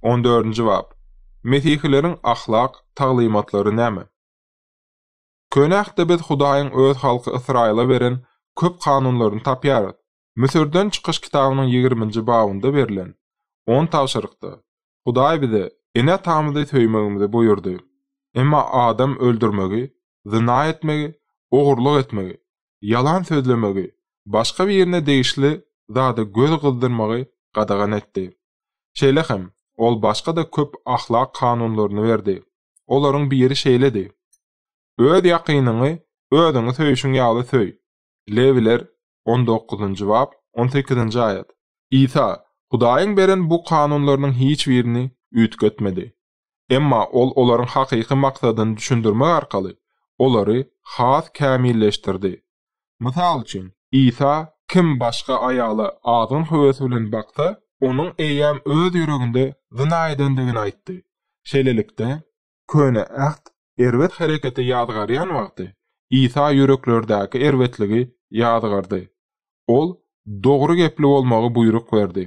On dördünji bap. Mesihileriň ahlak taglymatlary näme? Köne Ähtde biz Hudaýyň Öz halky Ysraýyla beren köp kanunlaryny tapýarys. Müsürden çykyş kitabynyň ýigriminji babynda berlen on tabşyrykda, Hudaý bize ene-atamyzy söýmegimizi buýurdy. Emma adam öldürmegi zyna etmegi, ogurlyk etmegi, ýalan sözlemegi, başga birine degişli zada göz gyzdyrmagy gadagan etdi. Şeýle hem, ol başga-da köp ahlak kanunlaryny berdi. Olaryň biri şeýledi, Öz ýakynyňy özüňi söýşüň ýaly söý. Lewiler on dokuzynjy bap, on sekizinji aýat. Isa Hudaýyň beren bu kanunlarynyň hiç birini üýtgetmedi. Emma ol olaryň hakyky maksadyny düşündirmek arkaly olary has kämilleşdirdi. Mysal üçin, Isa, Kim başga aýaly azgyn höwes bilen baksa, onuň eýýäm öz ýüreginde zyna edendigini aýtdy. Şeýlelikde, Köne Äht erbet hereketi ýazgarýan wagty, Isa ýüreklerdäki erbetligi ýazgardy. Ol dogry gepli bolmagy buýruk berdi.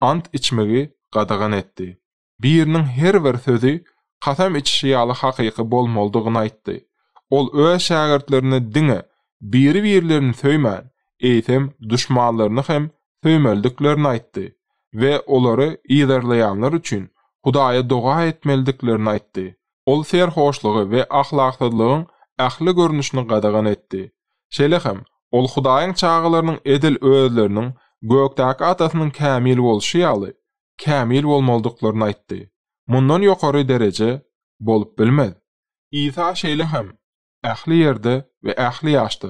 Ant içmegi gadagan etdi. biriniň her bir sözi kasam içişi ýaly hakyky bolmalydygyny aýtdy. Ol öz şägirtlerine diňe biri-birlerini söýmän, eýsem, duşmanlaryny hem söýmelidiklerini aýtdy we olary yzarlaýanlar üçin Hudaýa doga etmelidiklerini aýtdy. Ol serhoşlygy we ahlaksyzlygyň ähli görnüşini gadagan etdi. Şeýle hem, ol Hudaýyň çagalarynyň edil özleriniň gökdäki Atasynyň kämil bolşy ýaly, kämil bolmalydyklaryny aýtdy. Mundan ýokary dereje bolup bilmez. Isa şeýle hem ähli ýerde we ähli ýaşda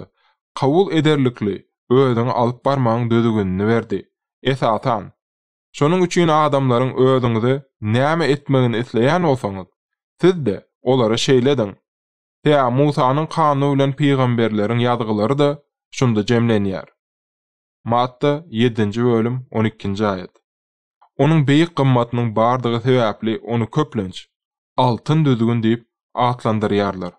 kabul ederlikli özüňi alyp barmagyň düzgünini berdi. Esasan, şonuň üçin adamlaryň özüňize näme etmegini isleýän bolsaňyz, siz-de olara şeýle ediň. Tä Musanyň Kanuny bilen pygamberleriň ýazgylary-da şunda jemlenýär. Matta, ýedinji bölüm, on ikinji aýat. Onuň beýik gymmatynyň bardygy sebäpli ony köplenç, Altyn düzgün diýip atlandyrýarlar.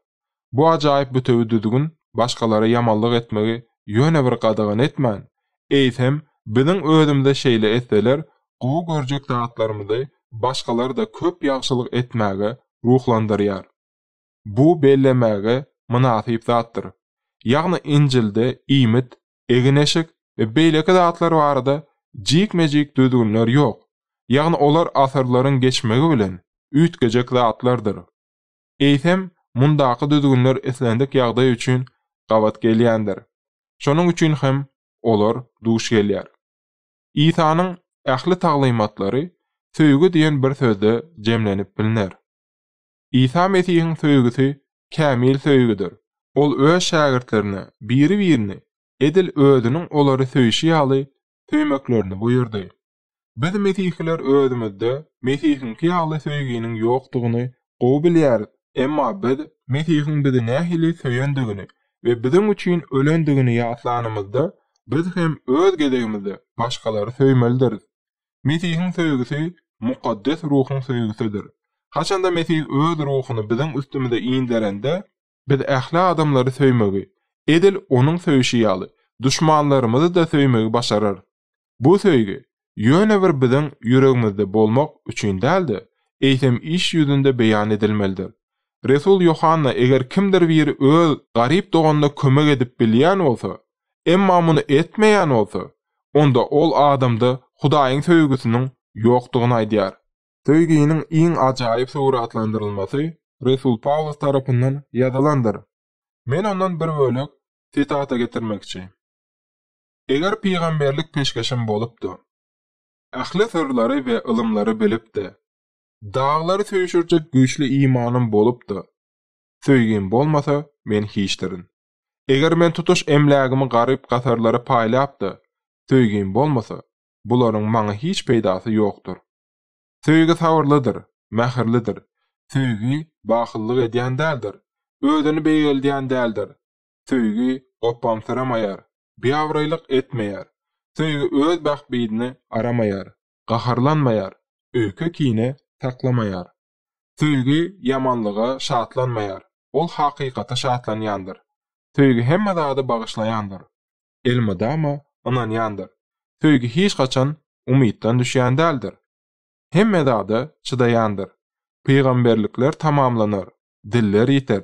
Bu ajaýyp bütewi düzgün başgalara ýamanlyk etmegi ýöne bir gadagan etmän, eýsem, biziň özümize şeýle etseler, gowy görjek zatlarymyzy başgalara-da köp ýagşylyk etmäge ruhlandyrýar. Bu bellemäge mynasyp zatdyr. Ýagny Injilde iýmit, egin-eşik we beýleki zatlar barada jikme-jik düzgünler ýok, ýagny olar asyrlaryň geçmegi bilen üýtgejek zatlardyr. Eýsem, mundaky düzgünler islendik ýagdaý üçin gabat gelýändir. Şonuň üçin hem olar duş gelýär. Isanyň ähli taglymatlary söýgi diýen bir sözde jemlenip bilner. Isa Mesihiň söýgüsi kämil söýgüdir. Ol öz şägirtlerine biri-birini edil Özüniň olary söýşi ýaly söýmeklerini buýurdy. Biz mesihiler özümizde Mesihiňki ýaly söýginiň ýokdugyny gowy bilýäris, emma biz Mesihiň bizi nähili söýendigini we biziň üçin ölendigini ýatlanymyzda, biz hem öz gezegimizde başgalary söýmelidiris. Mesihiň söýgüsi Mukaddes Ruhuň söýgüsidir. Haçanda Mesih Öz Ruhuny biziň üstümize inderende, biz ähli adamlary söýmegi, edil Onuň söýşi ýaly, duşmanlarymyzy-da söýmegi başararys. Bu söýgi, ýöne bir biziň ýüregimizde bolmak üçin däl-de, eýsem iş ýüzünde beýan edilmelidir. Resul Ýohanna eger kimdir biri öz garyp doganyna kömek edip bilýän bolsa, Emma muny etmeýän bolsa, onda ol adamda Hudaýyň söýgüsiniň ýokdugyny aýdýar. Söýginiň iň ajaýyp suratlandyrylmasy resul Pawlus tarapyndan ýazylandyr. Men ondan bir bölek sitata getirmekçi. Eger pygamberlik peşgeşim bolupdy. Ähli syrlary we ylymlary bilipdi. Daglary süýşürjek güýçli imanym bolupdy. Söýgim bolmasa, men hiçdirin. Eger men tutuş emlägimi garyp-gasarlara paýlap-da, söýgim bolmasa, bularyň maňa hiç peýdasy ýokdur. Söýgi sabyrlydyr, mähirlidir. Söýgi bahyllyk edýän däldir, özüni beýgeldýän däldir. Söýgi gopbamsyramaýar, biabraýlyk etmeýär. Söýgi öz bähbidini aramaýar, gaharlanmaýar, öýke-kine saklamaýar. Söýgi ýamanlyga şatlanmaýar, ol hakykata şatlanýandyr. Söýgi hemme zady bagyşlaýandyr, elmydama ynanýandyr. Söýgi hiç haçan umytdan düşýän däldir, hemme zada çydaýandyr. Pygamberlikler tamamlanar, diller ýiter,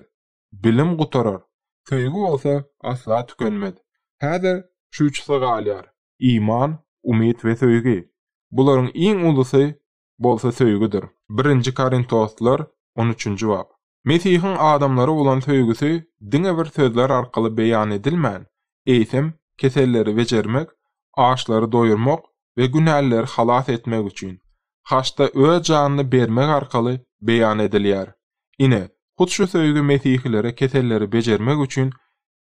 bilim gutarar. Söýgi bolsa asla tükenmez. Häzir şu üçüsi galýar. Iman, umyt we söýgi. Bularyň iň ulusy bolsa söýgüdir. Birinji Korintoslar, on üçünji bap. Mesihiň adamlara bolan söýgüsi diňe bir sözler arkaly beýan edilmän, eýsem, keselleri bejermek, açlary doýurmak we günälileri halas etmek üçin, haçda öz janyny bermek arkaly beýan edilýär. Ine, hut şu söýgi mesihilere keselleri bejermek üçin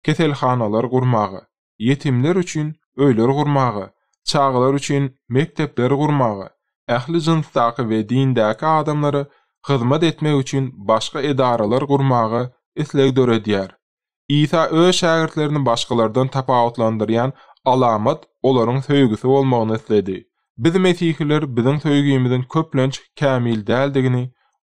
keselhanalar gurmaga, ýetimler üçin öýler gurmaga, çagalar üçin mekdepler gurmaga, ähli jynsdaky we dindäki adamlara hyzmat etmek üçin başga edaralar gurmaga isleg döredýär. Isa öz şägirtlerini başgalardan tapawutlandyrýan alamat olaryň söýgüsi bolmagyny isledi. Biz mesihiler biziň söýgimiziň köplenç kämil däldigini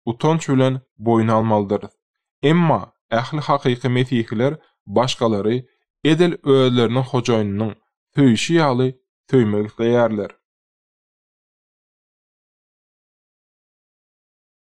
utanç bilen boýun almalydyrys. Emma ähli hakyky mesihiler başgalary edil özleriniň Hojaýynynyň söýşi ýaly söýmek isleýärler.